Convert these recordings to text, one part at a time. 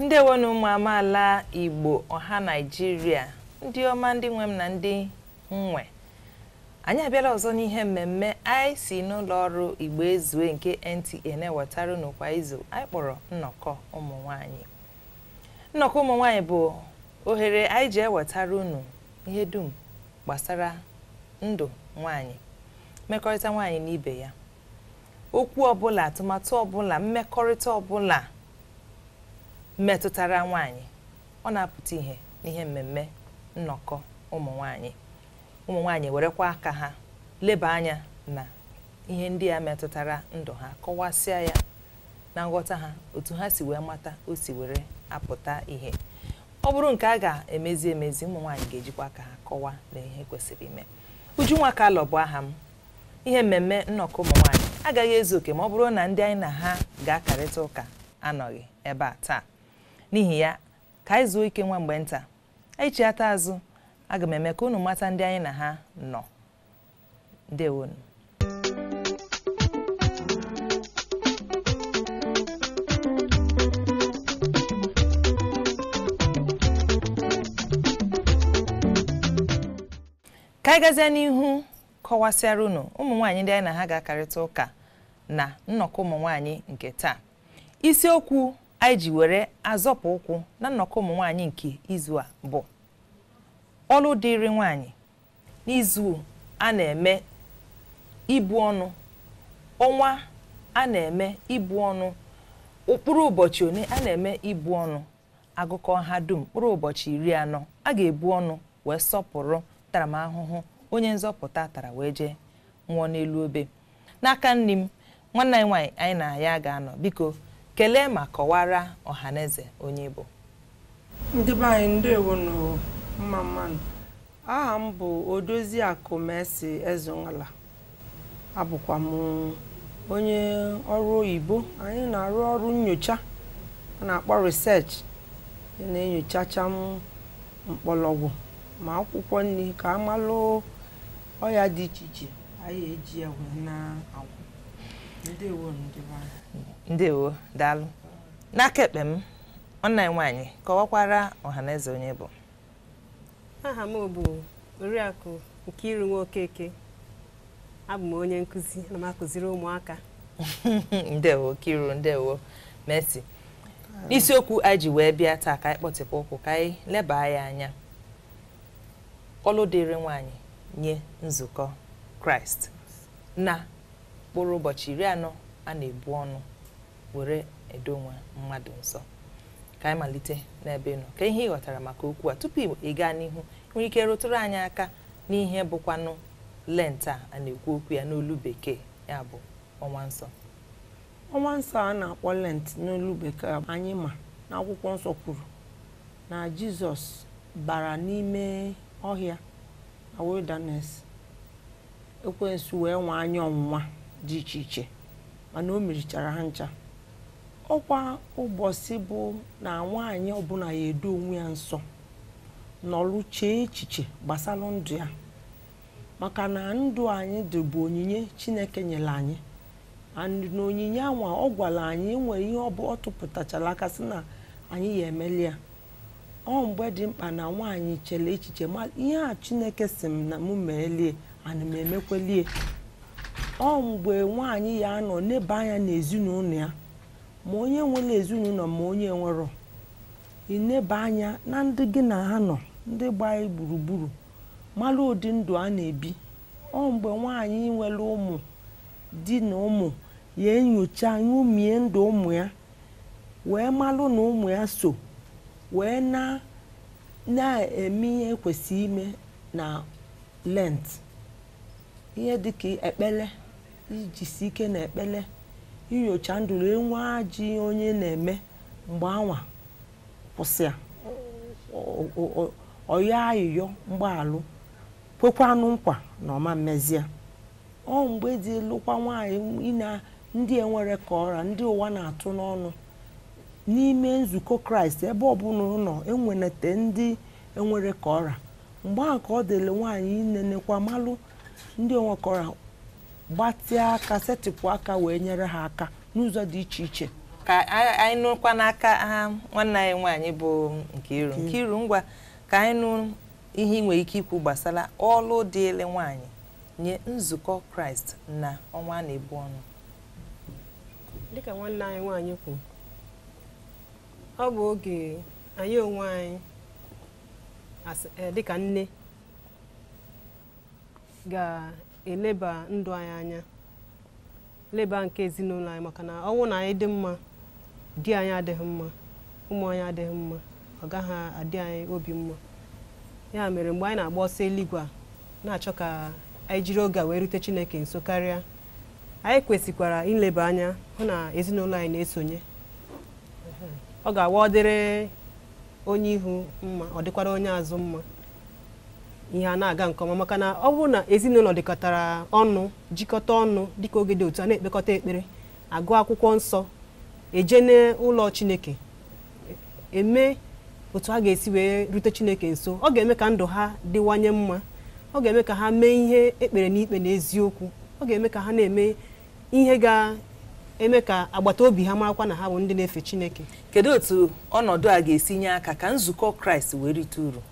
ndewonu ụmụ amaala igbo ọha naijiria ndị ọma ndị nwe m na ndị m nwe anyị abịala ọzọ n'ihe mmemme anyị si n'ụlọ ọrụ igbo ezue nke nta na-ewetara unu kwa izu anyị kpọrọ nnọkọ ụmụ nwanyị nnọkọ ụmụ nwaanyị bụ ohere anyị ji ewetara unu ihe dum gbasara ndụ nwaanyị mmekọrịta nwaanyị na ibe ya okwu ọbụla atụmatụ ọbụla mmekọrịta ọbụla metụtara nwaanyị ọ na-apụta ihe n'ihe mmemme nnọkọ ụmụ nwaanyị ụmụ nwaanyị werekwa aka ha leba anya na ihe ndị a metụtara ndụ ha kọwasịa ya na nghọta ha otu ha si wee mata o si were apụta ihe ọ bụrụ nke a ga-emezi emezi ụmụ nwaanyị ga-ejikwa aka ha kọwa na ihe kwesịrị ime Ujunwa Kalu bụ aha m ihe mmemme nnọkọ ụmụ nwaanyị agaghị ezu oke ma ọ bụrụ na ndị anyị na ha ga-akarịta ụka anọghị ebe a taa n'ihi ya ka anyị zuo ike nwa mgbe nta anyị chiata azụ aga m eme ka unu mata ndị anyị na ha nọ ndewonu ka anyị gazie n'ihu kọwasịara unu ụmụ nwaanyị ndị anyị na ha ga-akarịta ụka na nnọkọ ụmụ nwaanyị nke taa isiokwu anyị ji were azọpụ ụkwụ na nnọkọ ụmụ nwaanyị nke izu a bụ ọlụ dịịrị nwaanyị n'izu a na-eme ibu ọnụ ọnwa a na-eme ibu ọnụ mkpụrụ ụbọchị one a na-eme ibu ọnụ a gụkọọ ha dum mkpụrụ ụbọchị iri anọ a ga-ebu ọnụ wee sọpụrụ ntaramahụhụ onye nzọpụta tara wee jee nwụọ n'elu obe N'aka nni m, nwanne anyị nwaanyị anyị na ya ga-anọ. Biko, kelee ma kọwara ọhaneze onye ị bụ. Ndị be anyị ndewonu, mma mma nụ. Aha m bụ Odoziakụ Mercy Ezeunala. Abụkwa m onye ọrụ oyibo. Anyị na-arụ ọrụ nyocha a na-akpọ research. Anyị na-enyochacha ma mkpọlọgwụ ma akwụkwọ nni ka a malụ ọya dị iche iche. anyị eji ya wee na-agwụ ndewo ndị be anyị ndewo daalụ n'aka ekpe m nwanne anyị nwaanyị kọwakwara ọhaneze onye ị bụ aha m bụ oriakụ Nkiru Nwokeke abụ m onye nkụzi ana m akụziri ụmụaka ndewo Nkiru ndewo Mercy isiokwu anyị ji wee bịa taa ka anyị kpọtịpụ ụkwụ ka anyị leba ya anya ọlụ dịịrị nwaanyị nye nzukọ kraịst na mkpụrụ ụbọchị iri anọ a na-ebu ọnụ were edo onwe mmadụ nsọ ka anyị malite n'ebe ị nọ ka ihe ị ghọtara maka okwu a tupu ị gaa n'ihu ị nwere ike rụtụrụ anyị aka n'ihe bụkwanụ lent a a na-ekwu okwu ya n'olu bekee ya bụ ọnwa nsọ ọnwa nsọ a na-akpọ lent n'olu bekee anyị ma na akwụkwọ nsọ kwuru na Jizọs bara n'ime ọhịa na wilderness, ekwensu wee nwaa ya ọnwụnwa dị iche iche mana o merichara ha ncha. Ọkwa ụbọchị bụ na nwaanyị ọbụla ya edo onwe ya nsọ nọlụ chee echiche gbasara ndụ ya maka na ndụ anyị dị bụ onyinye chineke nyere anyị and na onyinye anwa ọ gwara anyị nwere ihe ọ bụ ọ tụpụtachara aka sị na anyị ya emeli ya ọ mgbe dị mkpa na nwaanyị chere echiche ma ihe a chineke sị m na mụ meelie ana m emekwelie ọ mgbe nwaanyị ya anọ neba anya n'ezinụlọ ya ma onye nwere ezinụlọ ma onye nwerọ ineba anya na ndị gị na ha nọ ndị gba gị gburugburu mara ụdị ndụ ha na-ebi ọ mgbe nwaanyị nwere ụmụ di na ụmụ ya enyocha nyomie ndụ ụmụ ya wee malụ na ụmụ ya so wee na na-eme ihe e kwesị ime na lent ihe dịka ekpele ijisi ike na ekpele inyocha ndụ e nwee ajọ ihe onye na-eme mgbe anwa kwụsị ya ọ yọọ ayịyọ mgbaghalụ kwekwanụ nkwa na ọ ma emezie ọ mgbe dịlụkwa nwaanyị ine ndị enwerọ ka ọ ra ndị ụwa na-atụ n'ọnụ n'ime nzukọ kraịst ebe ọbụla ọ nọ wee neta ndị enwerọ ka ọ ra mgbe ahụ ka ọ dịịrị nwaanyị inenekwa malụ ndị enwerọ ka ọ ra gbatịa aka setịpụ aka wee nyere ha aka n'ụzọ dị iche iche ka anyị nụkwa n'aka nwanne anyị nwaanyị bụ Nkiru Nkiru ngwa ka anyị nụ ihe ị nwere ike ikwu gbasara ọlụ dịịrị nwaanyị nye nzukọ Kraịst na ọnwa a na-ebu ọnụ dịka nwanne anyị nwaanyị kwu ọ bụ oge anyị onwe anyị eh, dịka nne ga-eleba ndụ anyị anya leba nke ezinụlọ anyị maka na ọ bụrụ na anyị dị mma di anyị adịghị mma ụmụ anyị adịghị mma ọ gaghị adị anyị obi mma ya mere mgbe anyị na-agba ọsọ eluigwe a na-achọ ka anyị jiri oge a wee rute Chineke nso karịa anyị kwesịkwara ileba anya hụ na ezinụlọ anyị na-esonye ọ ga-awa ọ dịrị onye ihu mma ọ dịkwara onye azụ mma ihe a na-aga nke ọma maka na ọ bụrụ na ezinụlọ dịkọtara ọnụ jikọta ọnụ dịka oge dị otu a na-ekpekọta ekpere agụ akwụkwọ nsọ eje n'ụlọ chineke eme otu a ga-esi wee rute chineke nso ọ ga-eme ka ndụ ha dịwanye mma ọ ga-eme ka ha mee ihe e kpere n'ikpe na eziokwu ọ ga-eme ka ha na-eme ihe ga-eme ka agbata obi ha marakwa na ha bụ ndị na-efe Chineke kedu otu ọnọdụ a ga-esi nye aka ka nzukọ kraịst wee rite uru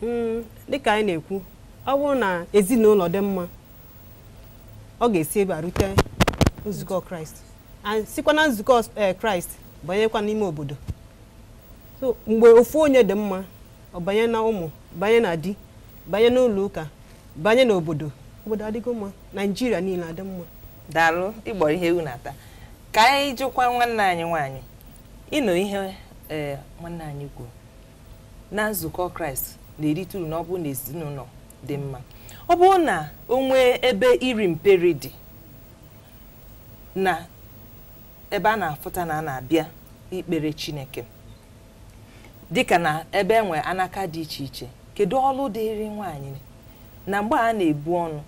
Mm, dịka anyị na-ekwu ọ bụrụ na ezinụlọ dị mma ọ ga-esi ebe a rute nzukọ kraịst and sikwa na nzukọ eh, kraịst banyekwa n'ime obodo so mgbe ofu onye dị mma ọ banye na ụmụ banye na di banye n'ụlọ ụka banye n'obodo obodo adịgo mma naijiria niile adị mma daalụ ị gbọrọ ihe ewu na-ata ka anyị jụkwa nwanne anyị nwaanyị ị nụ ihe ee eh, nwanne anyị kwuru na nzukọ kraịst na-erite uru na ọ bụrụ na ezinụlọ dị mma ọ bụrụ na o nwee ebe iri mperi dị na ebe a na-afụta na a na-abịa ikpere chineke dịka na ebe e nwe anaka dị iche iche kedu ọlụ dịrị nwaanyị na mgbe a na-ebu ọnụ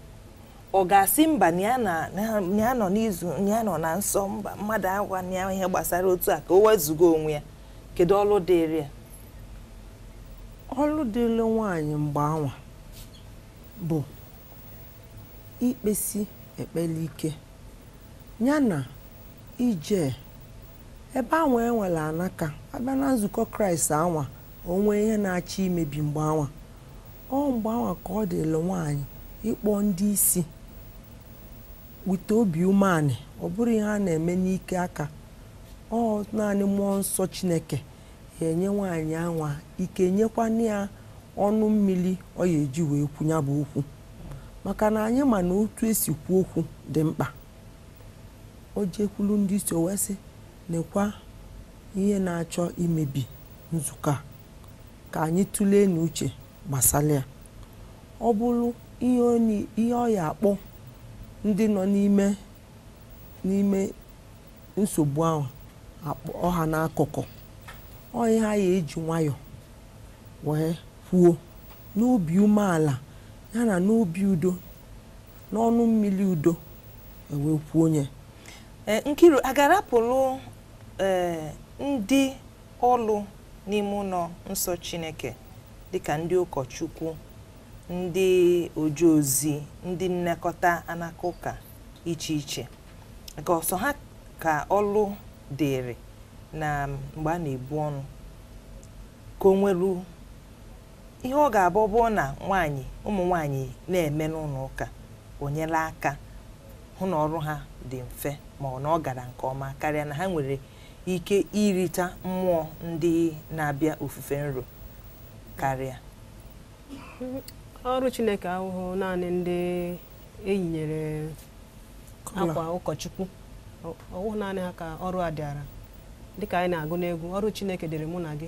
ọ ga-asị mba na ya na- na- na ya nọ n'izu na ya nọ na nsọ mba mmadụ agwana ya ihe gbasara otu a ka o wezuga onwe ya kedu ọlụ dịrị ya ọlụ dịrị nwaanyị mgbe anwa bụ ikpesi ekpere ike ya na ije ebe anwa e nwere anaka abịa na nzukọ kraịst anwa o nwee ihe na-achọ imebi mgbe anwa ọ mgbe anwa ka ọ dịrị nwaanyị ịkpọ ndị isi wite obi umeanị ọ bụrọ ihe a na-eme n'ike aka ọ naanị mmụọ nsọ chineke ya enye nwaanyị anwa ike nyekwa nya ọnụ mmiri ọ ya eji wee kwu ya bụ okwu maka na anyị ma na otu e si kwu okwu dị mkpa O jekwuru ndị isi o wee sị, Nekwa ihe na-achọ imebi nzukọ a. Ka anyị tụleenụ uche gbasara ya. Ọ bụrụ ihe ọ ni- ihe ọ ya-akpọ ndị nọ n'ime n'ime nsogbu ahụ akpọ ha n'akụkụ ọ ihe a ya-eji nwayọọ wee kwuo n'obi umeala ya na n'obi udo n'ọnụ mmiri udo wee kwuo onye e, nkiru a ga-arapụrụ e, ndị ọlụ n'ime ụlọ nsọ chineke dịka ndị ụkọchukwu ndị oje ozi ndị nnekọta anaka ụka iche iche ka ọ sọ ha ka ọlụ dịrị na mgbe a na-ebu ọnụ ka o nweru ihe ọ ga-abụ bụ na nwaanyị ụmụ nwaanyị na-eme n'ụlọ ụka o nyela aka hụ na ọrụ ha dị mfe ma na ọ gara nke ọma karịa na ha nwere ike irita mmụọ ndị na-abịa ofufe nro karịa ọrụ chineke awụhụ naanị ndị e yinyere akwa ụkọchukwu ọ wụhụ naanị ha ka ọrụ a dịara dịka anyị na-agụ n'egwu ọrụ chineke dịrị mụ na gị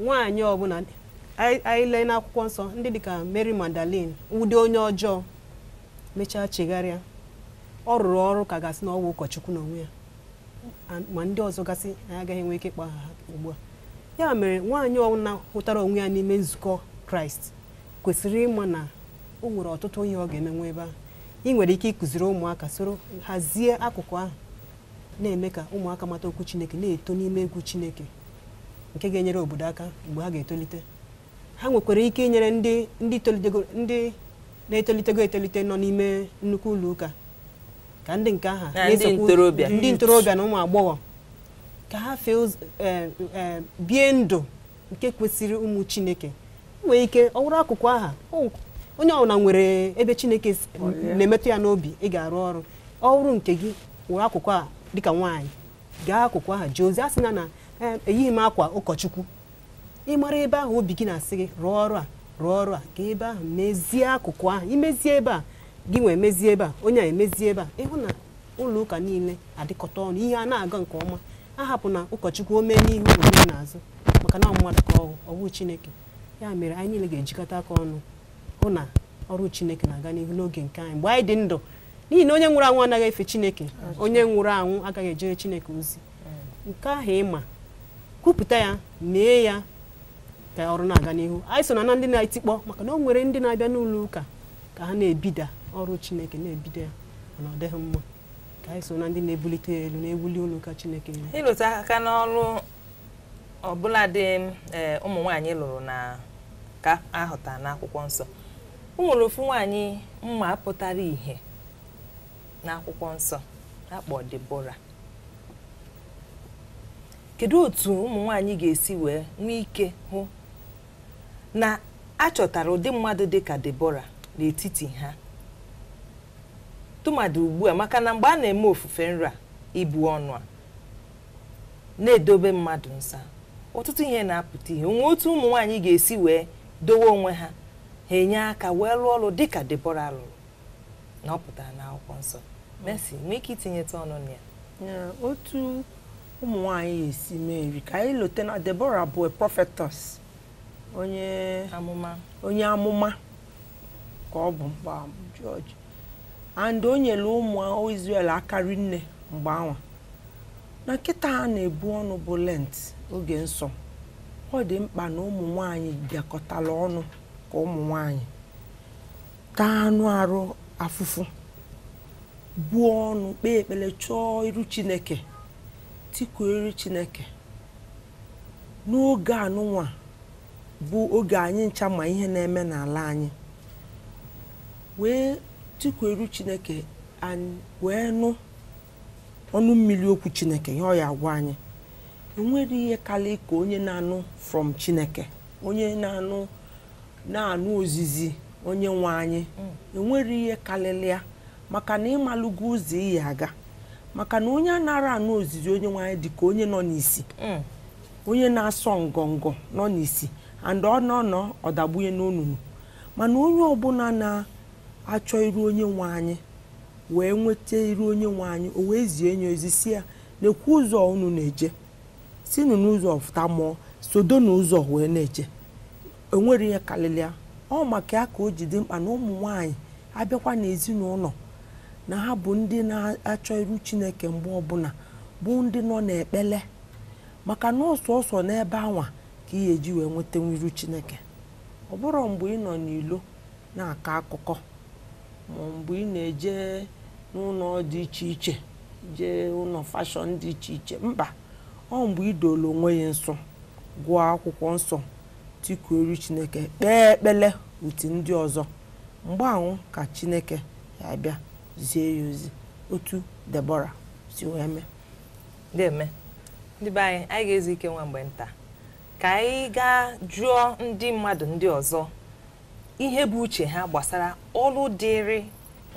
nwaanyị ọbụla anyị anyị lee n'akwụkwọ nsọ ndị dịka Mary Magdalene ụdị onye ọjọọ mechaa chegharịa ọ rụrụ ọrụ ka a ga-asị na ọ wụ ụkọchukwu n'onwe ya And- ma ndị ọzọ gasị anyị agaghị enwe ike ịkpọ aha ha ugbu a ya mere nwaanyị ọbụla hụtara onwe ya n'ime nzukọ kraịst kwesịrị ịma na o nwere ọtụtụ ihe ọ ga-emenwu ebe ahụ ị nwere ike ịkụziri ụmụaka soro hazie akụkụ ahụ na-eme ka ụmụaka mata okwu chineke na-eto n'ime egwu chineke nke ga-enyere obodo aka mgbe ha ga-etolite ha nwekwara ike inyere ndị ndị tolitego ndị na-etolitego etolite nọ n'ime nnukwu ụlọ ụka ka ndị nke aha Na ndị na-esokwu- ntorobịa. ndị ntorobịa na ụmụ agbọghọ ka ha fee ụz- eh, eh, bie ndụ nke kwesịrị ụmụ chineke nwee ike ọ wụrụ akụkụ aha o- onye ọbụla nwere ebe chineke si- na-emetụ ya n'obi ị ga-arụ ọrụ ọ wụrụ nke gị wụrụ akụkụ a dịka nwaanyị gaa akụkụ aha jee ozi asịna na eh, eyighị m akwa ụkọchukwu ị mara ebe ahụ obi gị na-asị gị rụọ ọrụ a rụọ ọrụ a gaa ebe ahụ mezie akụkụ ahụ i mezie ebe a gịnwa emezie ebe a onye a emezie ebe a ị hụ na ụlọ ụka niile adịkọta ọnụ ihe a na-aga nke ọma ahapụna ụkọchukwu o mee n'ihu o mee n'azụ maka na ọ mmadụ ka ọ wụ ọ wụhụ chineke ya mere anyị niile ga-ejikọta aka ọnụ hụ na ọrụ chineke na-aga n'ihu n'oge nke anyị mgbe anyị dị ndụ n'ihi na onye nwụrụ anwụ anaghị efe chineke onye nwụrụ anwụ agaghị ejere chineke ozi nke ahụ ị ma kwupụta ya mee ya ka ọrụ na-aga n'ihu anyị esona na ndị na-etikpọ maka na o nwere ndị na-abịa n'ụlọ ụka ka ha na-ebida ọrụ chineke na-ebida ya mana ọ dịghị mma ka anyị so na ndị na-ebulite ya elu na-ewuli ụlọ ụka chineke elu ịlụtụ aka n'ọrụ ọbụladị ee ụmụ nwaanyị lụrụ na ka a hụta n'akwụkwọ nsọ o nwere ofu nwaanyị m ma pụtara ìhè n'akwụkwọ nsọ a kpọ Debora kedu otu ụmụ nwaanyị ga-esi wee nwee ike hụ na a chọtara ụdị mmadụ dị ka Debora n'etiti ha tụmadụ ugbu a maka na mgbe a na-eme ofufe nru a ibu ọnụ a na-edobe mmadụ nsọ ọtụtụ ihe na-apụta ìhè o nwe otu ụmụ nwaanyị ga-esi wee dowe onwe ha ha enye aka wee lụọ ọrụ dịka Debora lụrụ na ọ pụtara n'akwụkwọ nsọ Mercy nwee ike itinyetụ ọnụ na ya otu ụmụ nwaanyị ga-esi merie ka anyị lote na Debora bụ a prophetess onye amụma ka ọ bụ mgbe ahụ bụ judge and o nyere ụmụ Israel aka rinne mgbe anwa na kịta a na-ebu ọnụ bụ lent oge nsọ ọ dị mkpa na ụmụ nwanyị bịakọtala ọnụ ka ụmụ nwanyị taa anụ arụ afụfụ buo ọnụ kpee ekpere chọọ iru chineke tikuo iru chineke n'oge anụnwa bụ oge anyị ncha ma ihe na-eme n'ala anyị wee tikuo iru chineke wee nụ ọnụ mmiri okwu chineke ihe ọ ya-agwa anyị enwerọ ihe karịa ka onye na-anụ from chineke onye na-anụ na-anụ ozizi onye nwe anyị mm. enwerọ ihe karịrị ya maka na ị malụgo ụzọ ị ya-aga maka na onye anarọ anụ ozizi onye nwe anyị dị ka onye nọ n'isi mm. onye na-asọ ngọngọ nọ n'isi and ọ nọ nọ ọ dagbunye n'onunu mana onye ọbụla na-achọ iru onye nwe anyị wee nweta iru onye nwe anyị o wee zie onye ozi sị ya na-ekwu ụzọ unu na-eje sinu n'ụzọ fụta ma ọ sodo n'ụzọ wee na-eje enwerọ ihe karịrị ya ọ maka ya ka o ji dị mkpa na ụmụ nwaanyị abịakwa n'ezinụlọ na ha bụ ndị na-achọ iru chineke mgbe ọbụla bụ ndị nọ n'ekpere maka na ọ sọsọ n'ebe anwa ka ị ga-eji wee nwetenwu iru Chineke ọ bụrọ mgbe ị nọ n'ilo na-akọ akụkọ ma mgbe ị na-eje n'ụnọ dị iche iche jee ụnọ fashọn dị iche iche mba ọ mgbe ị doolu onwe ya nsọ gụọ akwụkwọ nsọ tikuo iru Chineke kpee ekpele uti ndị ọzọ mgbe ahụ ka Chineke ya-abịa zie ya ozi otu Debọra si wee mee deeme ndị be anyị anyị ga-ezu ike nwa mgbe nta ka anyị gaa jụọ ndị mmadụ ndị ọzọ ihe bụ uche ha gbasara ọlụ dịrị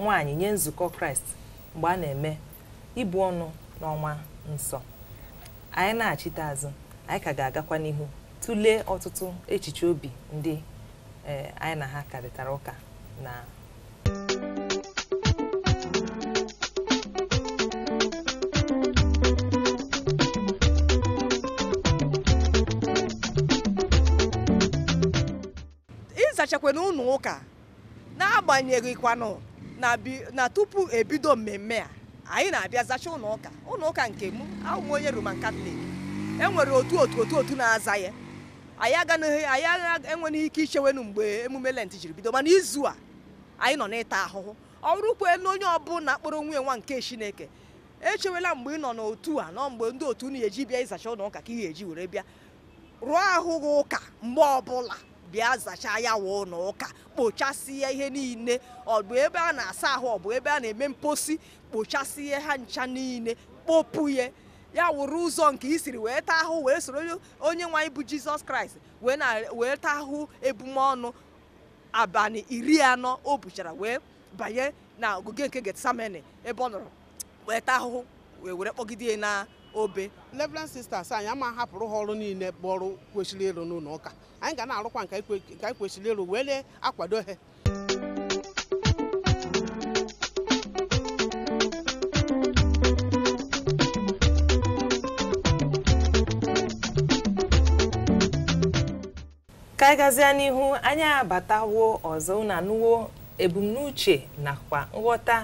nwaanyị nye nzukọ kraịst mgbe a na-eme ibu ọnụ n'ọnwa nsọ anyị nachite azụ anyị ka ga-agakwa n'ihu tụlee ọtụtụ echiche obi ndị eh, anyị na ha karịtara ụka na ịzachakwa na ụlọ ụka n'agbanyeghịkwanụ na bi- na tupu ebido mmemme a anyị na-abịa zacha ụlọ ụka ụlọ ụka nke mụ awụ m onye Roman Catholic e nwere otu otu otu otu na-aza ya anyị aganaghị anyị agha- enweghị ike ichewenu mgbe emume lent jiri bido mana izu a anyị nọ n'ịta ahụhụ ọ bụrụkwa na onye ọbụla kpọrọ onwe ya nwa nke chineke echewela mgbe ị nọ n'otu a nọ mgbe ndị otu unu eji bịa ịzacha ụlọ ụka ka ị ga-eji were bịa rụọ ahụ gị ụka mgbe ọbụla bịa zachaa ya wụ ụlọ ụka kpochasịa ihe niile ọ bụ ebe a na-asa ahụ ọ bụ ebe a na-eme mposi kpochasịa ha ncha niile kpopụ ya ya wụrụ ụzọ nke i siri wee taa ahụ wee soro onye nwe anyị bụ jizọs kraịst wee na wee taa ahụ ebumọnụ abalị iri anọ o buchara wee banye na ogige nke getsamene ebe ọ nọrọ wee taa ahụhụ wee were kpọgide ya na obe Reverend Sisters anyị ama hapụrụ ha ọrụ niile bụ ọrụ kwesịrị ịrụ n'ụlọ ụka anyị ga na-arụkwa nke anyị kwe- nke anyị kwesịrị ịrụ were akwado ha ka anyị gazie n'ihu anyị abatawo ọzọ unu anụwo ebumnuche nakwa nghọta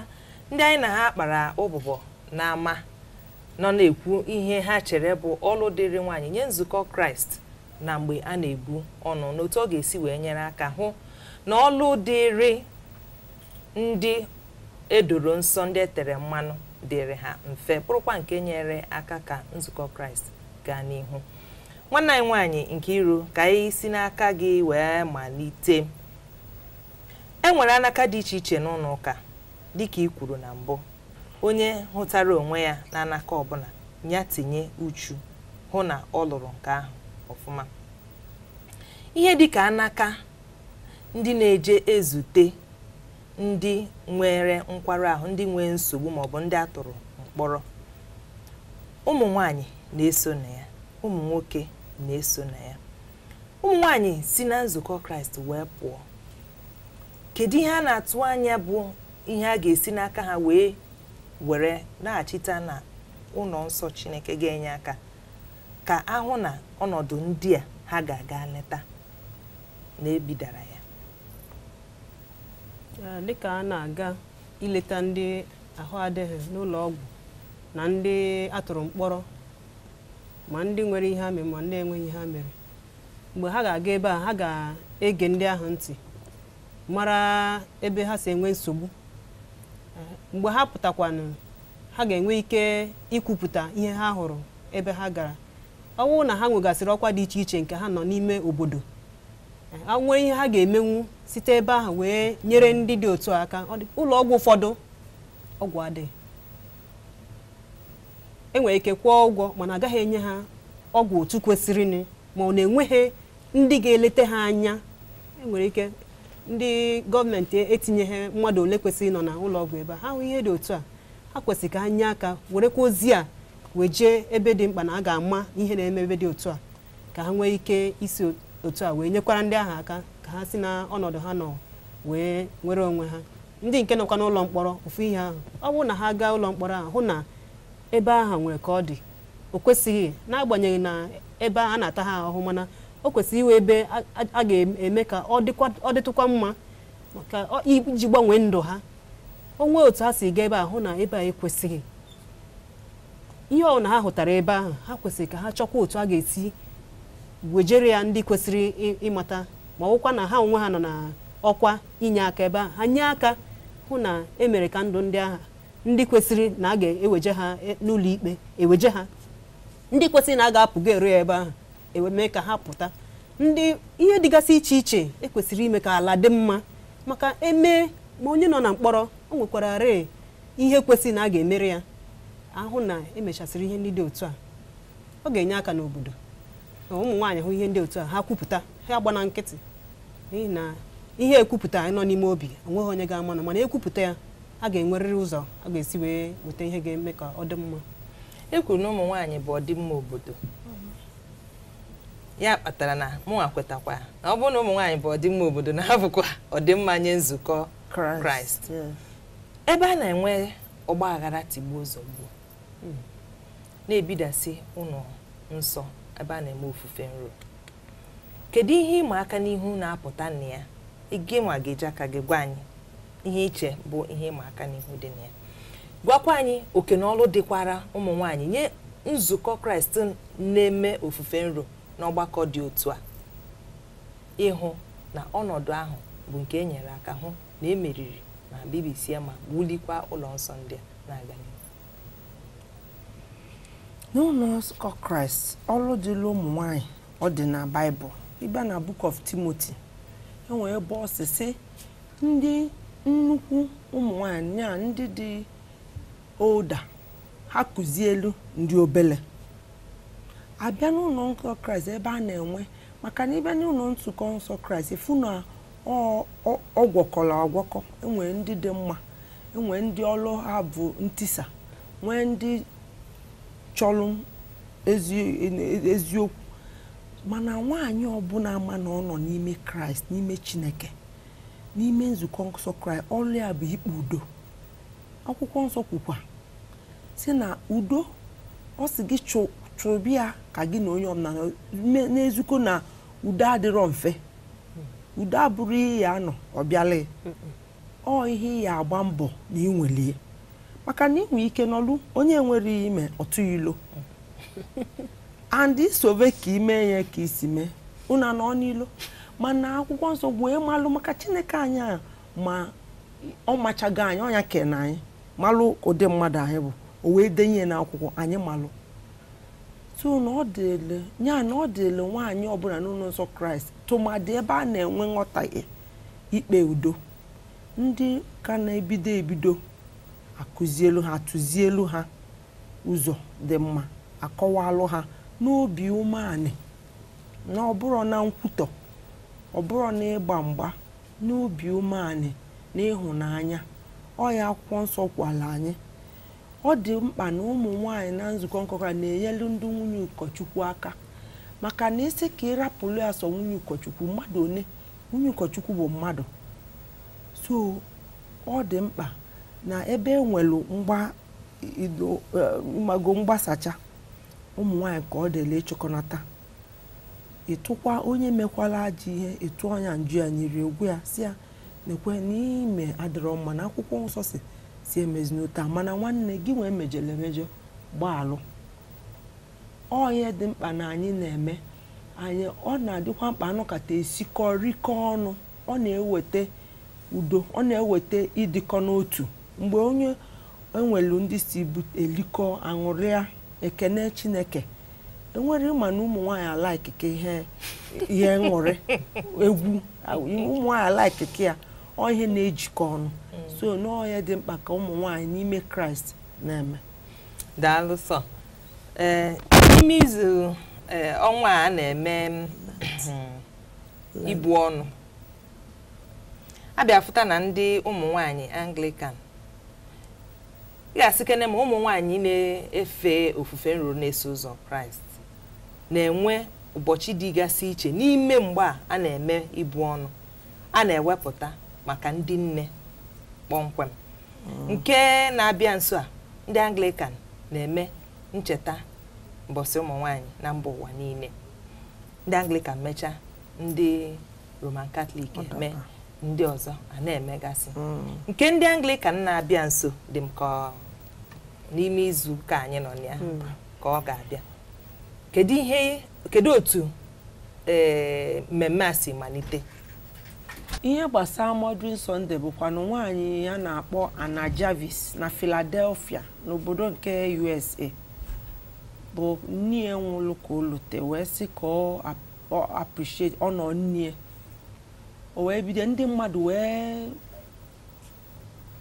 ndị anyị na ha kpara ụbụbọ n'ama nọ na-ekwu ihe ha chere bụ ọlụ dịrị nwaanyị nye nzukọ kraịst na mgbe a na-ebu ọnụ na otu ọ ga-esi wee nyere aka hụ na ọlụ dịrị ndị edoro nsọ ndị etere mmanụ dịrị ha mfe bụrụkwa nke nyere aka ka nzukọ kraịst gaa n'ihu nwanne anyị nwaanyị Nkiru ka anyị si n'aka gị wee malite e nwere anaka dị iche iche n'ụnọ ụka dịka i kwuru na mbụ onye hụtara onwe ya na anaka ọbụla ya tinye uchu hụ na ọ lụrụ nke ahụ ọfụma ihe dịka anaka ndị na-eje ezute ndị nwere nkwarụ ahụ ndị nwee nsogbu maọbụ ndị a tụrụ mkpọrọ ụmụ nwanyị na-eso na ya ụmụ nwoke na-eso na ya ụmụ nwanyị si na nzukọ kraịst wee pụọ kedu ihe a na-atụ anya bụ ihe a ga-esi n'aka ha wee were naghachite na ụlọ nsọ chineke ga-enye aka ka a hụ na ọnọdụ ndị a ha ga-aga leta na ebidara ya Ee, dịka a na-aga ileta ndị ahụ adịghị n'ụlọ ọgwụ na ndị a tụrụ mkpọrọ ma ndị nwere ihe ha mere ma ndị enweghị ihe ha mere mgbe ha ga-aga ebe ahụ ha ga-ege ndị ahụ ntị mara ebe ha si enwe nsogbu mgbe ha pụtakwanụ ha ga-enwe ike ikwupụta ihe ha hụrụ ebe ha gara ọ bụrụ na ha nwegasịrị ọkwa dị iche iche nke ha nọ n'ime obodo a nwee ihe ha ga-emenwu site ebe ahụ wee nyere ndị dị otu a aka ụlọ ọgwụ ụfọdụ ọgwụ adịghị enwere ike kwụọ ụgwọ mana a gaghị enye ha ọgwụ otu kwesịrịnụ ma ọ na enweghị ndị ga-eleta ha anya enwere ike ndị gọọmenti etinyeghị mmadụ ole kwesịrị ịnọ na ụlọ ọgwụ ebe a ha hụ ihe dị otu a ha kwesịrị ka ha nye aka werekwa ozi a wee jee ebe dị mkpa na a ga-ama ihe na-eme ebe dị otu a ka ha nwee ike isi otu a wee nyekwara ndị ahụ aka ka ha si na ọnọdụ ha nọ wee nwere onwe ha ndị nke nọkwa n'ụlọ mkpọrọ ofu ihe ahụ ọ bụrụ na ha gaa ụlọ mkpọrọ ahụ hụ na ebe ahụ nwere ka ọ dị o kwesịghị n'agbanyeghị na ebe a na-ata ha ahụhụ mana o kwesịrị ịwụ ebe a- a- a ga-eme ka ọ dịkwa- ọ dịtụkwa mma maka ọ- iji gbanwee ndụ ha o nwee otu ha si gaa ebe a hụ na ebe a ekwesịghị ihe ọ na ha hụtara ebe ahụ ha kwesịrị ka ha chọkwa otu a ga-esi wejere ya ndị kwesịrị ị- ịmata ma ọwụkwa na ha onwe ha nọ na ọkwa inye aka ebe ahụ ha nye aka hụ na e mere ka ndụ ndị ahụ ndị kwesịrị na a ga-eweje ha e- n'ụlọ ikpe eweje ha ndị kwesịrị na a ga-apụga ero ya ebe ahụ e wee mee ka ha pụta ndị ihe dịgasị iche iche ekwesịrị ime ka ala dị mma maka e mee ma onye nọ na mkpọrọ o nwekwarịrị ihe kwesịrị na a ga-emere ya a hụ na e mechasịrị ihe ndị dị otu a ọ ga-enye aka n'obodo na ụmụ nwaanyị hụ ihe ndị otu a ha kwupụta ha agbana nkịtị n'ihi na ihe ekwupụtaghị nọ n'ime obi o nweghị onye ga-ama na mana e kwupụta ya a ga-enwerịrị ụzọ a ga-esi wee weta ihe ga-eme ka ọ dị mma e kwuru na ụmụ nwaanyị bụ ọdịmma obodo ya kpatara na mụnwa kwetakwa na ọ bụrụ na ụmụ nwaanyị bụ ọdịmma obodo na ha bụkwa ọdịmma nye nzukọ kraịst ebe a na-enwe ọgba aghara tigbuo zọgbuo na-ebidasị ụlọ nsọ ebe a na-eme ofufe nro kedu ihe ịma aka n'ihu na-apụta na ya gị nwa ga-eji aka gị gwa anyị ihe i che bụ ihe ịma aka n'ihu dị na ya gwakwa anyị oke na ọlụ dịkwara ụmụ nwaanyị nye nzukọ kraịst na-eme ofufe nro n'ọgbakọ dị otu a ịhụ na ọnọdụ ahụ bụ nke e nyere aka hụ na e meriri ma bibisie ma wulikwa ụlọ nsọ ndị a na-aga n'ihu n'ụnọ nzukọ kraịst ọlụ dịlị ụmụ nwanyị ọ dị na baịbụl ị bịa na book of timothy e nwere ebe ọ sị sị ndị nnukwu ụmụ nwanyị nya ndị dị older ha kuzielu ndị obele a bịa n'ụnọ nsọ kraịst ebe a na-enwe maka na ị bịa n'ụnọ nzukọ nsọ kraịst ị fụ na ọ gwọkọrọ agwọkọ e nwere ndị dị mma e nwee ndị ọlụ ha bụ ntisa nwee ndị chọlụ eziokwu mana nwaanyị ọbụla ama na ọ nọ n'ime kraịst n'ime chineke n'ime nzukọ nsọ kraịst ọlụ ya bụ ikpe udo akwụkwọ nsọ kwukwa sị na udo ọ sị gị chụbe ya ka gị na onye ọbụla n'eziokwu na udo adịrọ mfe udo abụrọ ihe ị ya-anọ ọ bịala ọ ihe ị ya-agba mbọ na ị nwelie maka na ị nwee ike nọlụ onye nwerọ ihe i me ọ tụ ya ilo and i sobe ka i me ya ka i si mee unu anọ n'ilo mana akwụkwọ nsọ wee malụ maka chineke anyị a ma ọ machago anyị ọ nya kele anyị malụ ụdị mmadụ anyị bụ o wee denye ya n'akwụkwọ anyị malụ so na ọ dịlị ya na ọ dịlị nwaanyị ọbụla n'ụlọ nsọ kraịst tụmadị ebe a na-enwe nghọtahie ikpe udo ndị ka na-ebido ebido akuzielu ha atụzielu ha ụzọ dị mma akọwalụ ha n'obi umeanị na ọ bụrọ na nkwutọ ọ bụrọ na ịgba mgba n'obi umeanị na ịhụnanya ọ ya akwụkwọ nsọ gwalụ anyị ọ dị mkpa na ụmụ nwanyị na nzukọ nsọ kraịst na-enyelu ndị nwunye ụkọchukwu aka maka na ị sị ka ị rapụlụ ya sọ nwunye ụkọchukwu mmadụ one nwunye ụkọchukwu bụ mmadụ so ọ dị mkpa na ebe e nwelu mgbago eh, mgbasacha ụmụ nwanyị ka ọ dịlị ịchịkọnata ịtụkwa onye mekwala ajọ ihe ịtụ ọnya nju ya nyiri egwu ya sị ya nekwe na ihe i me adịrọ mma na akwụkwọ nsọ sị sị emezina otu a mana nwanne gị nwee mejọrọ emejọ gbaalụ ọ ihe dị mkpa na anyị na-eme anyị ọ na-adịkwa mkpa anọkata esikọ rikọ ọnụ ọ na-eweta udo ọ na-eweta ịdịkọ n'otu mgbe onye enwelu ndị si elikọ aṅụrịa ekene chineke enwere ị ma na ụmụ nwaanyị alaiki ka ihe aṅụrị egwu ụmụ nwaanyị alaiki ka ya ọ ihe na-ejikọ ọnụ so na ọ ihe dị mkpa ka ụmụ nwaanyị n'ime kraịst na-eme daalụ sọ ee n'ime izu ee, ọnwa a a na-eme mm, ibu ọnụ abịa fụta na ndị ụmụ nwanyị anglikan ị ga-asịkene ma ụmụ nwanyị na-efe ofufe nru na-eso ụzọ kraịst na-enwe ụbọchị dịgasị iche n'ime mgbe a a na-eme ibu ọnụ a na-ewepụta maka ndị nne kpọmkwem nke na-abịa nso a ndị anglikan na-eme ncheta mbọsị ụmụ nwanyị na mba ụwa niile ndị anglikan mechaa ndị roman katọlik eme ndị ọzọ a na-emegasị hmm. nke ndị anglikan na-abịa nso dị m ka n'ime izu ụka anyị nọ ya hmm. ka ọ ga-abịa kedu ihe kedu otu eh, mmemme a si malite ihe gbasara Mothering Sunday bụkwanụ nwaanyị a na-akpọ Anna Jarvis na Philadelphia n'obodo nke USA bụ nne ya nwụrụ ka o lute wee sị ka ọ ap- ọ appreciate honour nne ya. o wee bido ndị mmadụ wee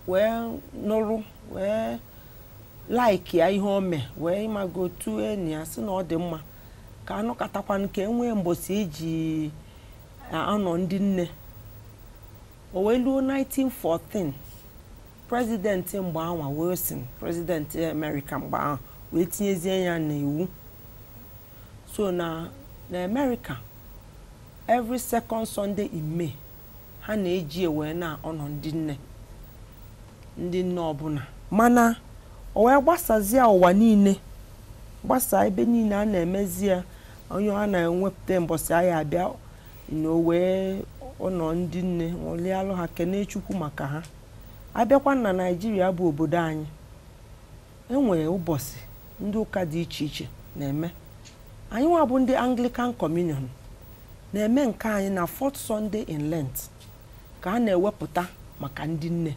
wee nụrụ wee like ya ihe o mee wee ị mago otu enyi ya sị na ọ dị mma ka anọkatakwanụ ka enwee mbọsị eji na-honour ndị nne o wee luo 1914 prezidenti mgbe anwa Wilson prezidenti Amerịka mgbe ahụ wee tinyezie ya n'iwu so na na Amerịka every second Sunday in May ha na-eji wee na-honour ndị nne ndị nne ọbụla mana o wee gbasazie ụwa niile gbasaa ebe niile a na-emezi ya ọ ihe a na-ewepụta mbọsị a ya-abịa nọ wee honour ndị nne ṅụlịalụ ha kenee chukwu maka ha abịakwa na naijiria bụ obodo anyị enwee ụbọchị ndị ụka dị iche iche na-eme anyị nwa bụ ndị anglican communion na-eme nke anyị na fourth sunday in lent ka a na-ewepụta maka ndị nne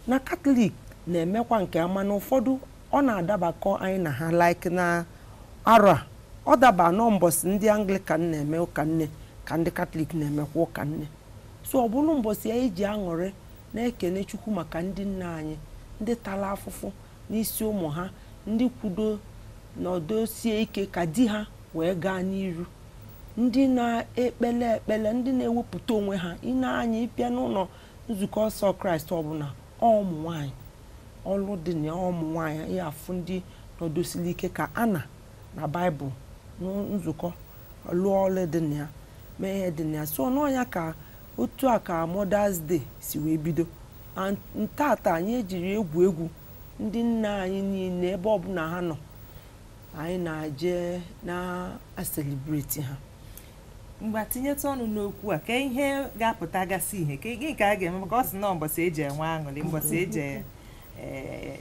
na katọlik na-emekwa nke ha mana ụfọdụ Ọ na-adabakọ anyị na ha like na arọ a ọ daba na mbọsị ndị Anglican na-eme ụka nne ka ndị Katọlik na-emekwa ụka nne so ọ bụrụ mbọsị anyị ji aṅụrị na-ekene Chukwu maka ndị nne anyị ndị tara afụfụ n'isi ụmụ ha ndị kwudo nọdosie ike ka di ha wee gaa n'iru ndị na-ekpele ekpele ndị na-ewepụta onwe ha ine anya ịbịa n'ụlọ nzukọ nsọ Kraịst ọbụla ụmụ nwaanyị ọlụ dị na ụmụ nwaanyị ya afụ ndị nọdosili ike ka Ana na Baịbụl nzukọ lụọ ọlụ dị na ya mee ihe dị na ya so na ọ ya ka otu a ka Mother's Day si wee bido na ntata anyị ejiri egwu egwu ndị nne anyị niile ebe ọbụla ha nọ anyị na-eje na-aselibreti ha ngwa tinyetụ ọnụ n'okwu a ka ihe ga-apụta gasị ihe ka gị nke a ga-eme maka ọ sị na mbọsị e ji enwe aṅụrị mbọsị e ji eh,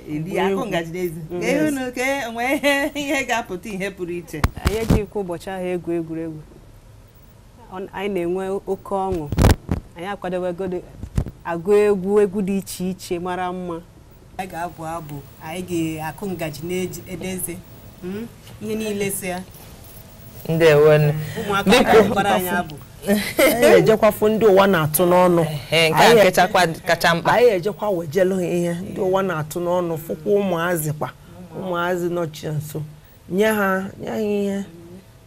eli Agba akụ egwu. ngaji n'eze Mm. ka ihe unu ka enwe ihe ihe ga-apụta ihe pụrụ iche anyị ejighịkwa ụbọchị ahụ egwu egwuregwu Ọ- anyị na-enwe oke ọṅụ anyị akwadowego agụ egwu egwu dị iche iche mara mma anyị ga-abụ abụ anyị ga-akụ ngaji n'ebe eze hmm? ihe niile so ya anyị ejekwa fụ ndị ụwa na-atụ n'ọnụ anyị ejekwa wejelu ha ihe ndị ụwa na-atụ n'ọnụ fụkwa ụmụazị kwa ụmụazị nọchie nso nye ha nye ha ihe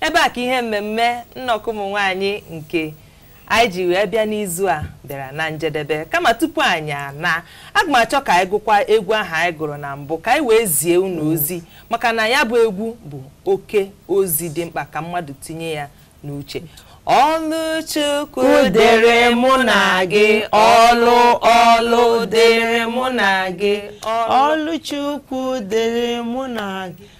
ebe a ka ihe mmemme nnọkọ ụmụ nwaanyị nke anyị ji wee bịa n'izu a bịara na njedebe kama tupu anyị ana aga m achọ ka anyị gụkwa egwu ahụ anyị gụrụ na mbụ ka anyị wee zie unu ozi maka na ya bụ egwu bụ oke ozi dị mkpa ka mmadụ tinye ya n'uche ọlụ Chukwu dịrị mụ na gị ọlụ ọlụ dịrị mụ na gị ọlụ ọlụ Chukwu dịrị mụ na gị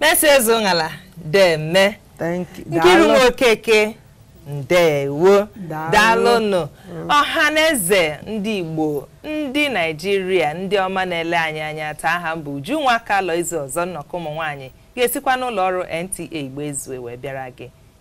Mercy Ezeonghala deeme Nkiru Okeke ndewo daalụnụ mm. ọha na eze ndị Igbo ndị Naijiria ndị ọma na-ele anyị anya taa aha m bụ Ujunwa Kalọ Izu ọzọ nnọkọ ụmụ nwaanyị ga-esikwa n'ụlọ ọrụ NTA Igbo Ezue wee bịara gị